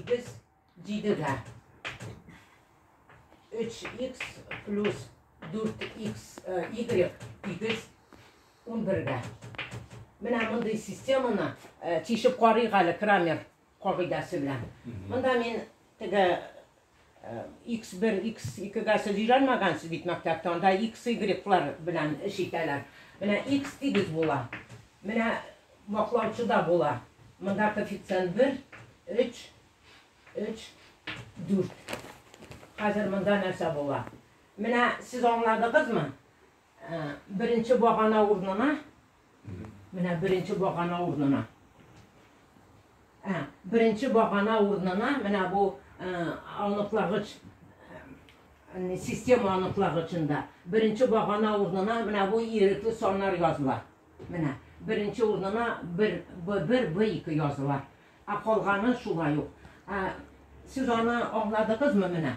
Без дидегә 3х плюс 4х y тигез 11-гә. Менә мондый системаны тишеп карыйк әле Крамер кагыйдәсе белән. Монда мин теге Икс-бер, икс-икегә сез өйрәнмәгәнсез бит мәктәптә, анда икс-игреклар белән эш итәләр. Менә икс дигез була. Менә ваклаучы да була. Монда коэффициент бер, өч, өч, дүрт. Хәзер монда нәрсә була? Менә сез аңладыгызмы? Беренче багана урынына Менә беренче багана урнына. Ә, беренче багана урнына менә бу аныклагыч система аныклагычында беренче багана урнына менә бу ирекле саннар языла. Менә беренче урнына бер бер б ике языла. Ә калганы шулай ук. Ә, сез аны аңладыгызмы менә?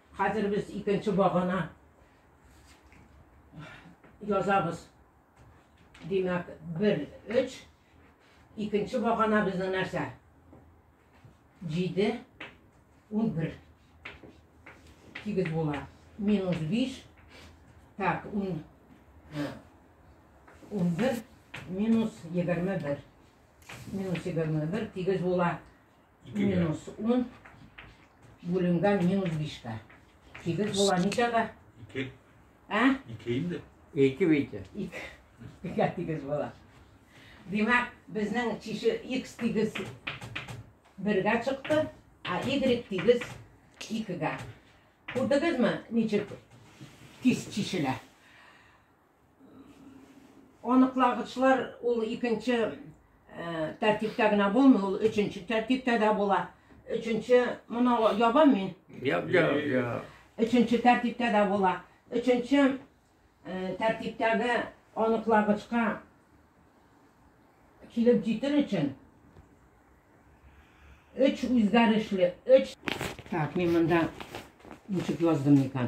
Хәзер без икенче багана язабыз. Димәк, бер, өч. Икенче багана безнең нәрсә? Җиде, ун бер. Тигез була. Минус биш. Так, ун, э, ун бер, минус егерме бер. Минус егерме бер, тигез була. Ике грамм. Минус ун бүленгән минус бишкә. Сигез була ничәгә? Ике. Ә? Ике инде. Ике бите. Ике. Бигә тигез була. Димәк, безнең чише x тигез бергә чыкты, а y тигез икегә. Күрдегезме, ничек тиз чишелә? Аныклагычлар ул икенче э, тәртиптә генә булмый, ул өченче тәртиптә дә була. Өченче, моны ябам мин. Яб, яб, яб. Өченче тәртиптә дә була. Өченче э, тәртиптәге аныклагычка килеп җитер өчен өч үзгәрешле, өч... Так, мин монда ничек яздым микән?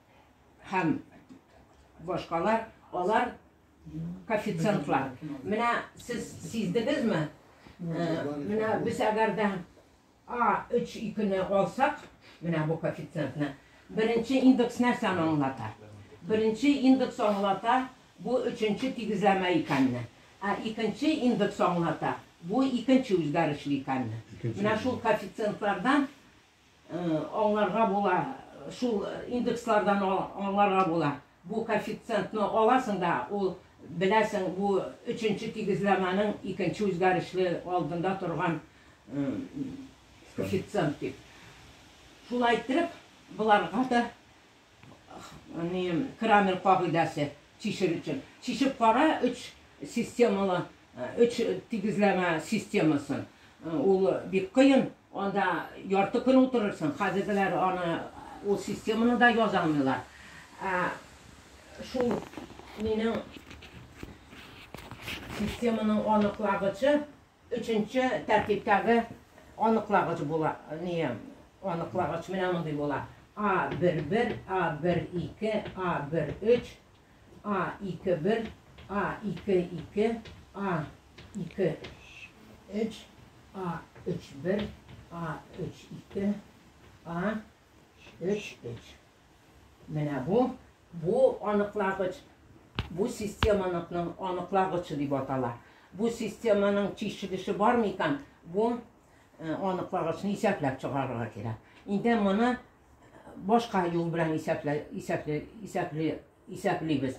һәм башкалар, алар коэффициентлар. Менә сез сиздегезме? Э, менә без әгәр дә А 3 икене алсак, менә бу коэффициентны. Беренче индекс нәрсәне аңлата? Беренче индекс аңлата бу өченче тигезләмә икәнне. Ә икенче индекс аңлата бу икенче үзгәрешле икәнне. Менә шул коэффициентлардан Аңларга була, шул индекслардан аңларга була. Бу коэффициентны аласың да, ул, беләсең, бу өченче тигезләмәнең икенче үзгәрешле алдында торган коэффициент дип. Шулай иттереп, боларга да Ни, Крамер кагыйдәсе чишер өчен. Чишеп кара өч системалы, өч тигезләмә системасын. Ул бик кыен, анда ярты көн утырырсың. Хәзергеләр аны, ул системаны да яза алмыйлар. Ә шул минем системаның аныклагычы. Өченче тәртиптәге аныклагыч була, әние, аныклагыч менә мондый була, а бер бер, а бер ике, а бер өч, а ике бер, а ике ике, а ике өч, а өч бер, а өч ике, а өч өч. Менә бу, бу аныклагыч, бу системаныкның аныклагычы дип атала. Бу системаның тишек эче бар микан, бу аныклагычны исәпләп чыгарырга кирәк. Инде моны башка юл белән исәпле, исәпле, исәпле, исәплибез.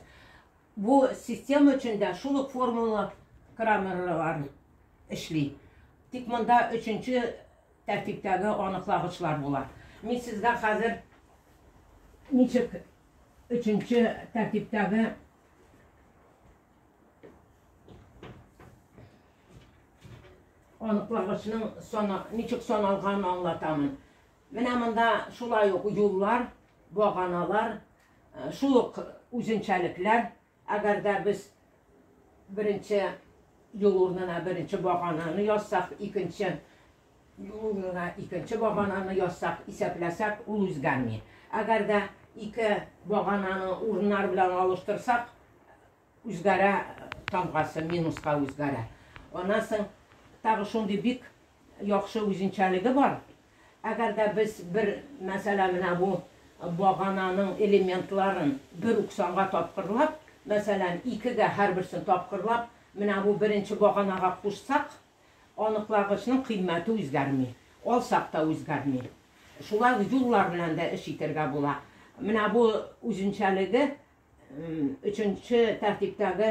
Бу система өчен дә шул ук формула крамерлар эшли. Тик монда өченче Тәртиптәге аныклагычлар була. Мин сезгә хәзер ничек өченче тәртиптәге аныклагычның сана, ничек саналганын аңлатамын. Менә монда шулай ук юллар, баганалар, э, шул ук үзенчәлекләр, Әгәр дә без беренче юл урынына беренче багананы язсак, икенче юл урынына икенче багананы язсак, исәпләсәк, ул үзгәрми. Әгәр дә ике багананы урыннар белән алыштырсак, үзгәрә тамгасы, минуска үзгәрә. Аннан соң тагы шундый бик яхшы үзенчәлеге бар. Әгәр дә без бер, мәсәлән, менә бу багананың элементларын бер үк санга тапкырлап, мәсәлән, икегә һәрберсен тапкырлап, менә бу беренче баганага кушсак, аныклагычның кыйммәте үзгәрми, алсак та үзгәрми. Шулай ук юллар белән дә эш итәргә була. Менә бу үзенчәлеге. Өченче тәртиптәге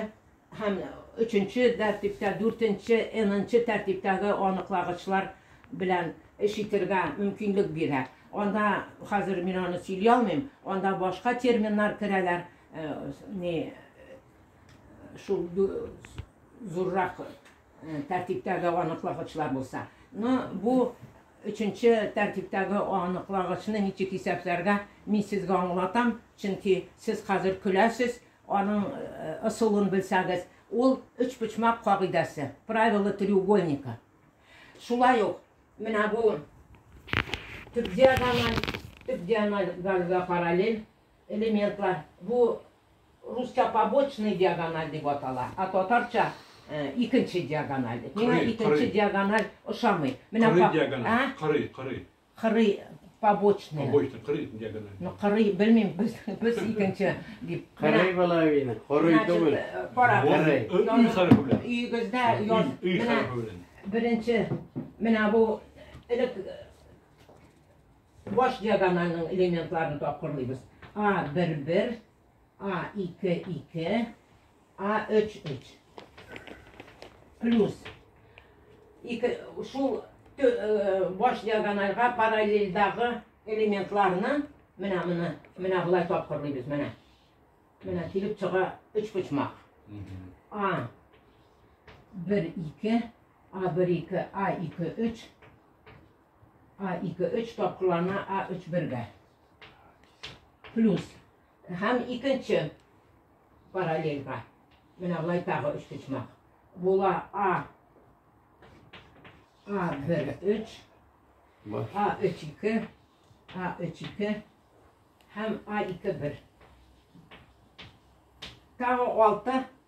һәм өченче тәртиптә, дүртенче, энынчы тәртиптәге аныклагычлар белән эш итергә мөмкинлек бирә. Анда хәзер мин аны сөйли алмыйм, анда башка терминнар керәләр, э, не, шул зуррак тәртиптәге аныклагычлар булса. Ну, бу өченче тәртиптәге аныклагычны ничек исәпләргә, мин сезгә аңлатам, чөнки сез хәзер көләсез, аның ысулын белсәгез, ул өчпочмак кагыйдәсе, правило треугольника. Шулай ук, менә бу төп диагональ, төп диагональ параллель, Элементлар, бу русча побочный диагональ дип атала, а татарча икенче диагональ дип. Миңа икенче диагональ ошамый. Менә кырый диагональ, кырый, кырый. Кырый побочный. Побочный, кырый диагональ. Ну, кырый, белмим, без, без икенче дип. Кырый половина, кырый түгел. Кара, кырый. Үй хәрефе белән. Өйегездә яз. Үй хәрефе белән. Беренче, менә бу элек Баш диагональнең элементларын тапкырлыйбыз. А, бер, бер. А, ике, ике. А, өч, өч. Плюс. Ике, шул э, баш диагональга параллельдагы элементларны менә менә менә болай тапкырлыйбыз менә менә килеп чыга өч почмак а бер ике а бер ике а ике өч А ике өч тапкырлана А өч бергә. Плюс. Һәм икенче параллельга. Менә былай тагы өч почмак. Була А. А бер өч. А өч ике. А өч ике. Һәм А ике бер. Тағы алты.